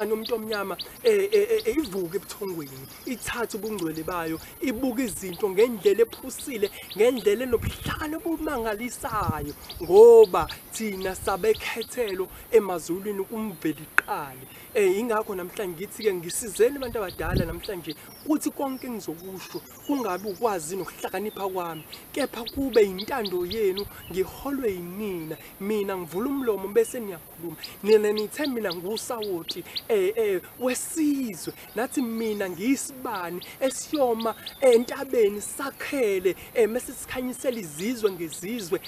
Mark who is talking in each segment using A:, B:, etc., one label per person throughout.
A: Kanti umuntu omnyama eh, eh, eh, ivuka ebuthongweni ithatha ubungcwele bayo ibuka izinto ngendlela ephusile ngendlela enobuhlakani obumangalisayo ngoba thina sabekhethelo emazulwini kumveli qali eh ingakho namhlanje ngithi ke ngisizeni abantu abadala namhlanje kuthi konke engizokusho kungabi ukwazi nokuhlakanipha kwami kepha kube intando yenu ngiholwe yinina mina ngivula umlomo bese niya khuluma nina nithe mina ngusawoti eh eh wesizwe nathi mina ngiyisibani esiyoma entabeni sakhele eh mase sikhanyisela izizwe ngezizwe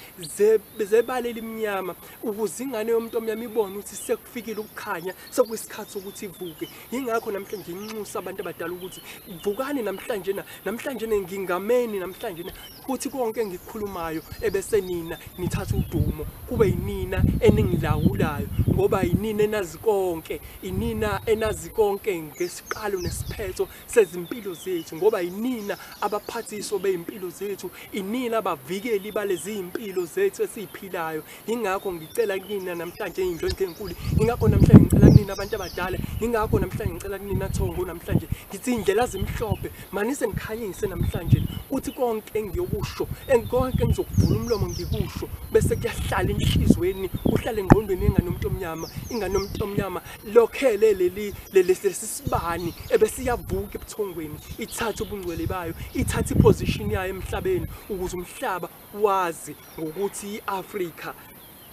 A: zebale elimnyama ukuze ingane yomuntu omnyama ibone ukuthi sekufikile ukukhanya sekuyisikhathi ukuthi ivuke yingakho namhlanje nginxusa abantu abadala ukuthi vukani namhlanje na namhlanje ngingameni namhlanje futhi konke engikukhulumayo ebese nina nithatha udumo kube yinina eningilawulayo ngoba yinina enazi konke inina enazi konke ngesiqalo nesiphetho sezimpilo zethu ngoba yinina abaphathiso bezimpilo zethu inina abavikeli balezi impilo zethu esiziphilayo yingakho ngicela kunina namhlanje iy'ndlondlo ey'nkulu yingakho namhlanje ngicela kunina abantu abadala yingakho namhlanje ngicela kunina thongo namhlanje ngithi iy'ndlela zimhlophe manise ngikhanyise namhlanje kuthi konke engiyokusho konke engizokuvula umlomo ngikusho bese kuyahlala enhlizweni kuhlale engqondweni ingane yomuntu omnyama ingane yomuntu omnyama lokhele leli lesi sibani ebesiyavuka ebuthongweni ithathe ubungcwele bayo ithathe iposition yayo emhlabeni ukuze umhlaba wazi ngokuthi i-Afrika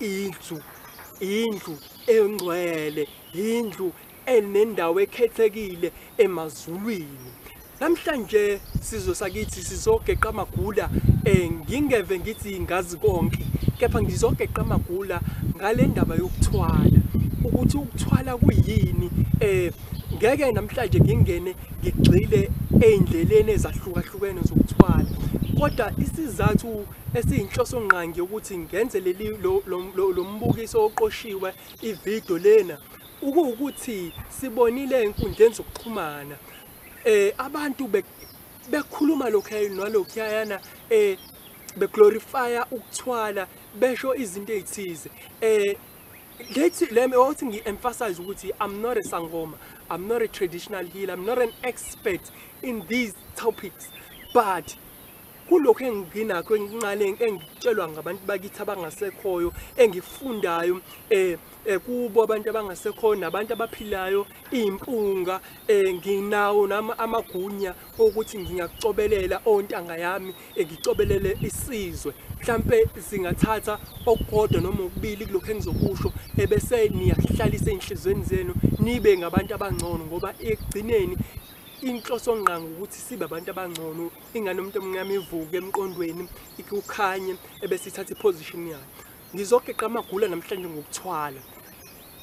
A: indlu indlu engcwele indlu enendawo ekhethekile emazulwini namhlanje sizwe sakithi sizogeqa amagula eh ngingeve ngithi ngazi konke kepha ngizogeqa amagula ngale ndaba yokuthwala ukuthi ukuthwala kuyini eh ngeke namhlanje ngingene ngigxile ey'ndleleni ezahlukahlukene zokuthwala kodwa isizathu esiyinhloso ngqangi yokuthi ngenze leli lo mbukiso oqoshiwe ividiyo lena ukuwukuthi sibonile enkundleni zokuxhumana eh abantu bekhuluma lokhu nalokhuyana eh beglorifya ukuthwala besho izinto ezithize eh Ngithi le wathi ngi-emphasize ukuthi I'm not a sangoma, I'm not a traditional healer, I'm not an expert in these topics but kulokho enginakho enginqale engitshelwa ngabantu bakithi abangasekhoyo engifundayo eh, eh kubo abantu abangasekhoyo nabantu abaphilayo impunga eh nginawo nami amagunya ukuthi ngingakucobelela ontanga yami ngicobelele isizwe mhlampe singathatha okukodwa noma ukubili kulokho engizokusho ebese niyahlalisa enhlizweni zenu nibe ngabantu abangcono ngoba ekugcineni inhloso ngqanga ukuthi sibe abantu abangcono ingane umuntu omnyama ivuke emqondweni ikukhanye ebese ithatha iposition yayo ngizogeqa amagula namhlanje ngokuthwala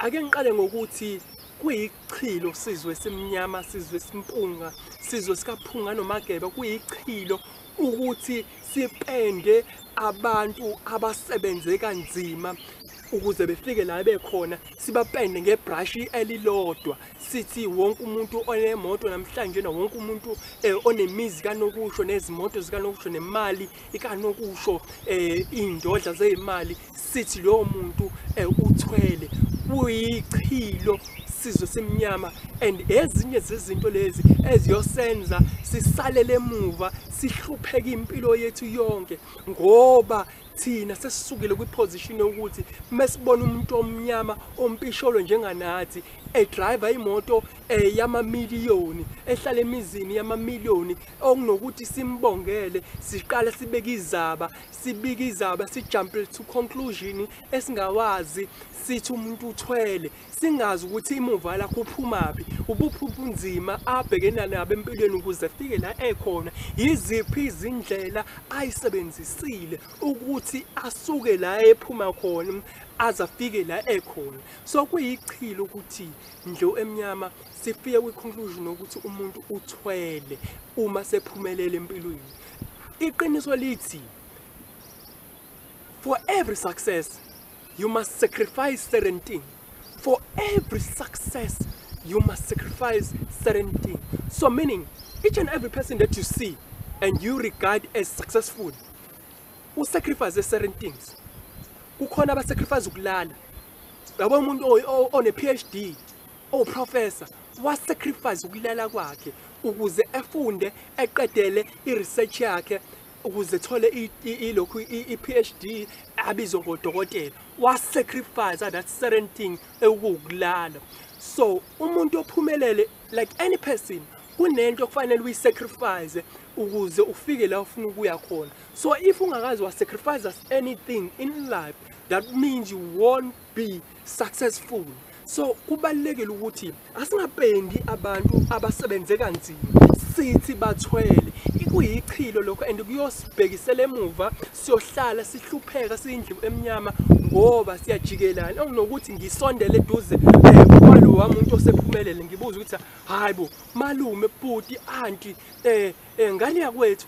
A: ake ngiqale ngokuthi kuyi Chilo sizwe simnyama sizwe simpunga sizwe sikaphunga nomageba kuyichilo ukuthi sipende abantu abasebenze kanzima ukuze befike la bekhona sibapende ngebrush elilodwa sithi wonke umuntu onemoto namhlanje na wonke umuntu eh, onemizi kanokusho nezimoto zikanokusho nemali ikanokusho eh, indodla zezimali sithi lowo muntu um uthwele uyichilo sizwe simnyama and ezinye zezinto lezi eziyosenza sisalele emuva sihlupheke impilo yethu yonke ngoba thina sesisukile kwiposition yokuthi mesibona umuntu omnyama ompisholo njenganathi edrive imoto eh, yamamiliyoni ehlala emizini yamamiliyoni okunokuthi simbongele siqale sibeke izaba sibika izaba sijumple to conclusion esingawazi sithi umuntu uthwele singazi ukuthi imuva lakho uphumaphi ubuphi ubunzima abhekena nabo empilweni ukuze afike la ekhona yiziphi izindlela ayisebenzisile ukuthi asuke la ephuma khona aze afike la ekhona so kuyichilo ukuthi ndlo emnyama sifike kwi-conclusion ukuthi umuntu uthwele uma sephumelele empilweni iqiniso lithi for every success you must sacrifice certain thing for every success you must sacrifice certain thing so meaning each and every person that you see and you regard as successful usacrifice certain things kukhona abasacrifice ukulala yabo umuntu one-phd Uprofesa wasacrifice ukulala kwakhe ukuze efunde eqedele i-research yakhe ukuze thole ilokhu i-PhD abizwe ngodokotela wasacrifice that certain thing ewukulala so umuntu ophumelele like any person kunento okufanele uyisacrifice ukuze ufike la ufuna ukuya khona so if ungakazi wasacrifice anything in life that means you won't be successful so kubalekile ukuthi asingapendi abantu abasebenze kanzima sithi bathwele ikuyichilo lokho and kuyosibhekisela emuva siyohlala sihlupheka siyindlu emnyama ngoba siyajikelana okunokuthi ngisondele eduze eh, kwalo wamuntu osephumelele ngibuza ukuthi hayibo malume bhuti anti eh, eh ngane yakwethu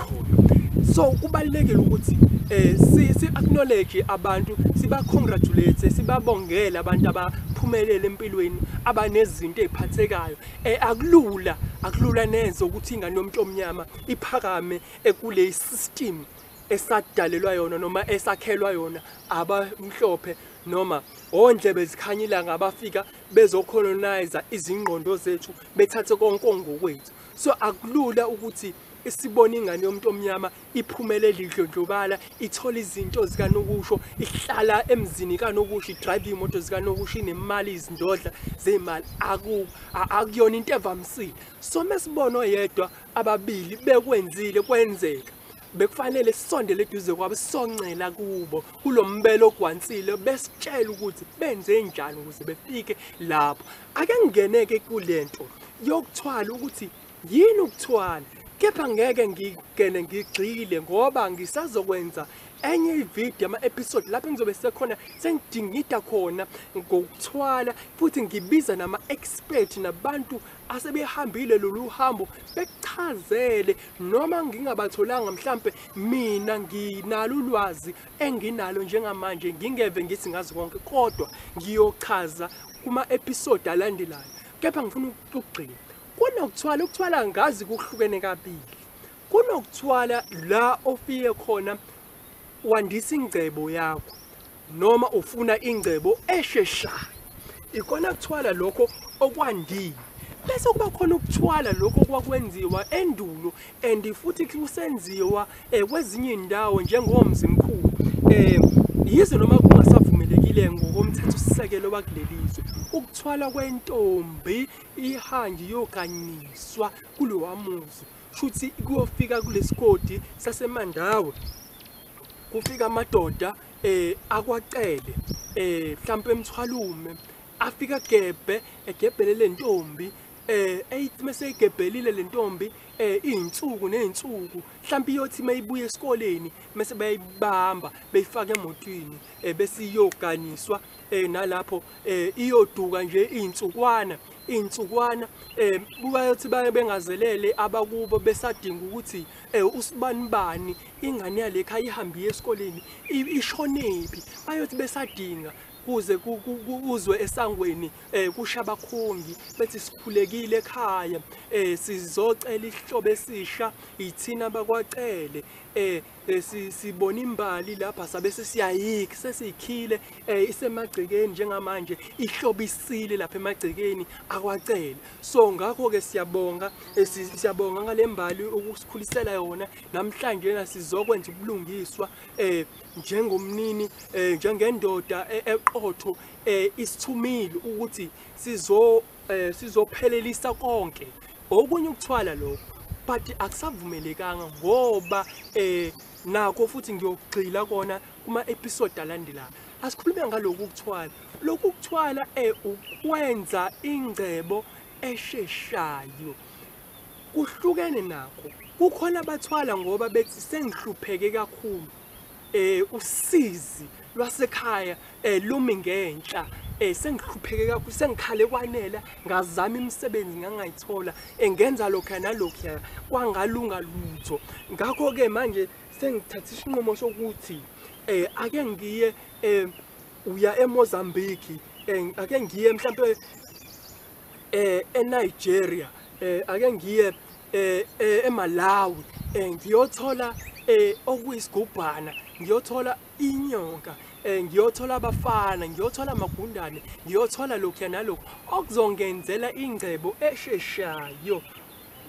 A: iqholo so kubalulekile ukuthi eh si, si acknowledge abantu siba congratulate sibabongele abantu abaphumelele empilweni abanezinto eziphathekayo eh akulula akulula neze ukuthi ingane yomuntu omnyama iphakame ekule system esadalelwa yona noma esakhelwa yona abamhlophe noma ondlebe zikhanya ilanga abafika bezocolonize izingqondo zethu bethathe konke ongokwethu so akulula ukuthi Isibona ingane yomuntu omnyama iphumele lidlondlobala ithola izinto zikanokusho ihlala emzini kanokusho idrive imoto zikanokusho inemali izindodla zemali aku akuyona into evamisile so mesibona oyedwa ababili bekwenzile kwenzeka bekufanele sisondele eduze kwabo sisoncela kubo kulombelo ogwansile besitshela ukuthi benze njani ukuze befike lapho ake ngingeneke kulento yokuthwala ukuthi Yini ukuthwala kepha ngeke ngigene ngigxile ngoba ngisazokwenza enye ivideo ama-episode lapho ngizobe sekhona sengidingida khona ngokuthwala futhi ngibiza nama-expert nabantu asebehambile lolu hambo bekuchazele noma ngingabatholanga mhlampe mina nginalo ulwazi enginalo njengamanje ngingeve ngithi ngazi konke kodwa ngiyochaza kuma-episode alandelayo kepha ngifuna ukugxila kunokuthwala ukuthwala ngazi kuhlukene kabili kunokuthwala la ofike khona wandisa ingcebo yakho noma ufuna ingcebo esheshayo ikona kuthwala lokho okwandile bese kuba khona ukuthwala lokho kwakwenziwa endulo and futhi kusenziwa eh, kwezinye indawo njengomzimkhulu eh yize noma kungasavumelekile ngokomthetho sisekelo wakulelizwe ukuthwala kwentombi ihanji yokanyiswa kulowa muzi shuthi kuyofika kulesigodi sasemandawe kufika amadoda eh akwacele eh mhlambe emthwalume afika gebhe egebhele lentombi eh eyithi meseyigebhelile lentombi eh izinsuku nezinsuku mhlambi iyothi mayibuye esikoleni mase bayibamba beyifaka emotweni eh bese iyoganiswa eh nalapho eh iyoduka nje izinsukwana izinsukwana eh bayothi baye bengazelele abakubo besadinga ukuthi eh usibani bani ingane yalekha ihambi esikoleni ishonephi bayothi besadinga kuze kuzwe esangweni eh kusha abakhongi bethi sikhulekile ekhaya eh sizocela isihlobo esisha yithina bakwacele eh besi sibona imbali lapha sabe sesiyayiki sesiyikhile eh isemagcekeni njengamanje ihlobisile lapha emagcekeni akwacele so ngakho ke siyabonga eh, siyabonga ngalembali ukusikhulisela yona namhlanje na sizokwenza ubulungiswa eh njengomnini eh njengendoda eh, eqotho eh isithumile ukuthi sizo eh sizophelelisa konke okunye ukuthwala lokho but akusavumelekanga ngoba eh nakho futhi ngiyogxila kona kuma episode alandelayo asikhulume ngaloku ukuthwala lokhu ukuthwala eh ukwenza ingcebo esheshayo kuhlukene nakho kukhona abathwala ngoba bethi sengihlupheke kakhulu eh usizi lwasekhaya eh lumi ngenhla eh sengihlupheke kakhulu sengikhale kwanela ngazama imisebenzi ngangayithola engenza eh, lokho nalokho kwangalunga lutho ngakho ke manje sengithatha isinqumo sokuthi eh ake ngiye eh uya eMozambique eh ake ngiye mhlawumbe eh eNigeria eh ake ngiye eh, eh eMalawi eh ngiyothola eh okuyisigubhana ngiyothola inyoka eh ngiyothola abafana ngiyothola amagundane ngiyothola lokhu nalokho okuzongenzela ingcebo esheshayo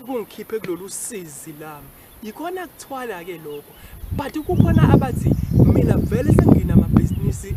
A: kungikhiphe kulolu sizi lami yikhona kuthwala ke lokho but kukhona abathi mina vele senginamabhizinisi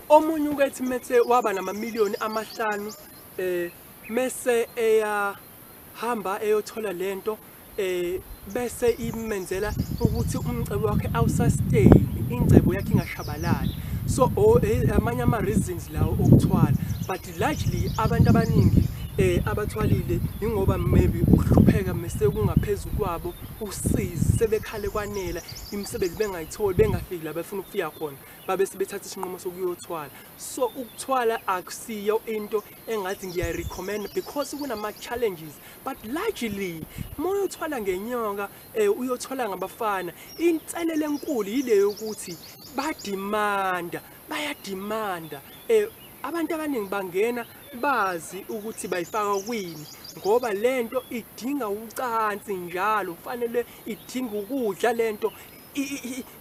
A: omunye ukethi mese waba namamiliyoni amahlanu eh mese eyahamba eyothola lento eh bese imenzela ukuthi umcebo wakhe awusustain ingcebo yakhe ingashabalali so oh, eh, amanye ama reasons lawo okuthwala but largely abantu abaningi eh abathwalile ingoba maybe ukuhlupheka mese kungaphezulu kwabo usizi sebekhale kwanela imisebenzi bengayitholi bengafiki la befuna ukufika khona babe sebethatha isinqumo sokuyothwala so ukuthwala akusiyo into engathi ngiyayirecommenda because kunama-challenges but largely uma uyothwala ngenyoka um uyothwala ngabafana inselelo enkulu yile yokuthi badimanda bayadimanda um abantu abaningi bangena bazi ukuthi bayifaka kwini ngoba lento idinga ucansi njalo kufanele idinga ukudla lento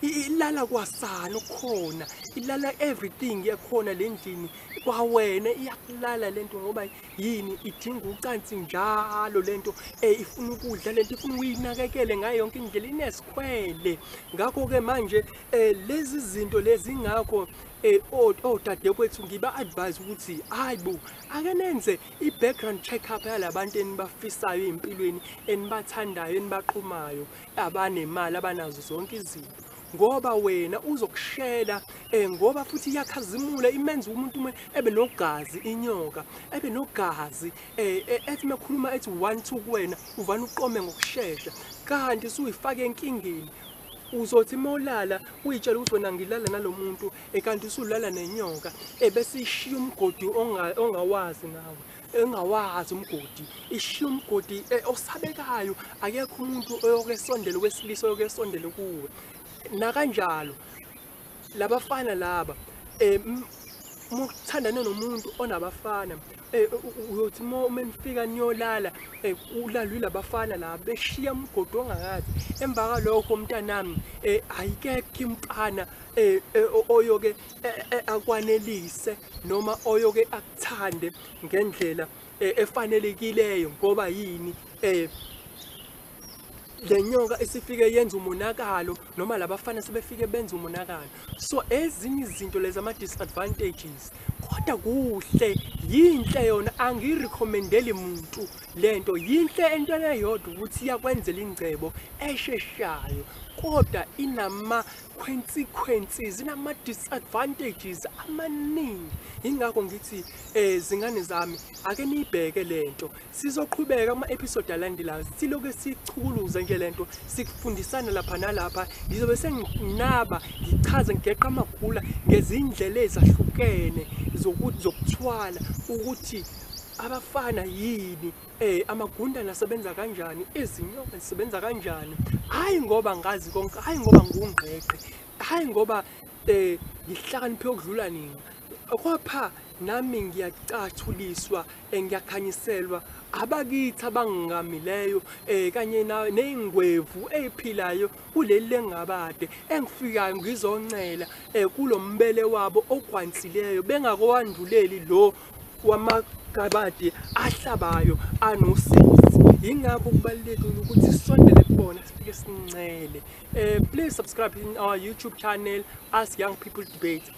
A: ilala kwasana ukhona ilala everything yakhona le ndlini kwawena iyakulala le nto ngoba yini idinga ucansi njalo le nto um ifuna ukudla le nto ifuna uyinakekele ngayo yonke indlela inesikhwele ngakho-ke manje um lezi zinto lezi ngakho Eh, odadewethu oh, oh, ngiba-advise ukuthi hayi bo ake nenze i-background check-up yalabantu enibafisayo ey'mpilweni enibathandayo enibaqhumayo abanemali abanazo zonke izinto ngoba wena uzokushela um ngoba futhi iyakhazimula imenza umuntu ume ebe nogazi inyoka ebe nogazi um ethi mekhuluma ethi one two kuwena uvane uqome ngokushesha kanti suyifake enkingeni uzothi uma ulala uyitshela ukuthi wena ngilala nalo muntu ekanti usulala nenyoka ebese ishiya umgodi ongawazi nawe engawazi umgodi ishiya umgodi e, osabekayo akekho umuntu oyokesondela wesilisa oyokesondela kuwe nakanjalo labafana laba um uma uthandane nomuntu onabafana eh, uyothi uma nifika niyolala eh, ulalwe labafana la beshiya umgodi ongakazi emva kalokho mntanami um ayikekho impana um oyoke akwanelise noma oyoke akuthande ngendlela efanelekileyo ngoba yini um le nyoka isifike yenza umonakalo noma labafana sebefike benza umonakalo so ezinye izinto lezi ama-disadvantages kodwa kuhle yinhle yona angiyirekhomendeli muntu le nto yinhle entweni eyodwa ukuthi iyakwenzela ingcebo esheshayo kodwa inama-consequences inama-disadvantages amaningi yingakho ngithi um zingane zami ake niyibheke le nto Sizoqhubeka kuma-episode alandelayo siloke sichukuluza nje le nto sikufundisana lapha nalapha ngizobe senginaba ngichaze ngigeqa amagula ngezindlela ezahlukene zokuthwala ukuthi abafana yini eh amagundana asebenza kanjani izinyoka zisebenza kanjani hayi ngoba ngazi konke hayi ngoba ngungqeqe hayi ngoba eh ngihlakaniphe ukudlula nina Kwapha nami ngiyacathuliswa eh, ngiyakhanyiselwa abakithi abangamileyo eh, kanye na- ney'ngwevu ey'philayo kuleli lengabade engifikayo ngizoncela eh, kulo mbele wabo ogwansileyo bengakowanduleli lo wamagabade ahlabayo anosizi yingakho kubalulekile ukuthi sisondele kubona sifike sincele um please subscribe in our youtube channel ask young people debate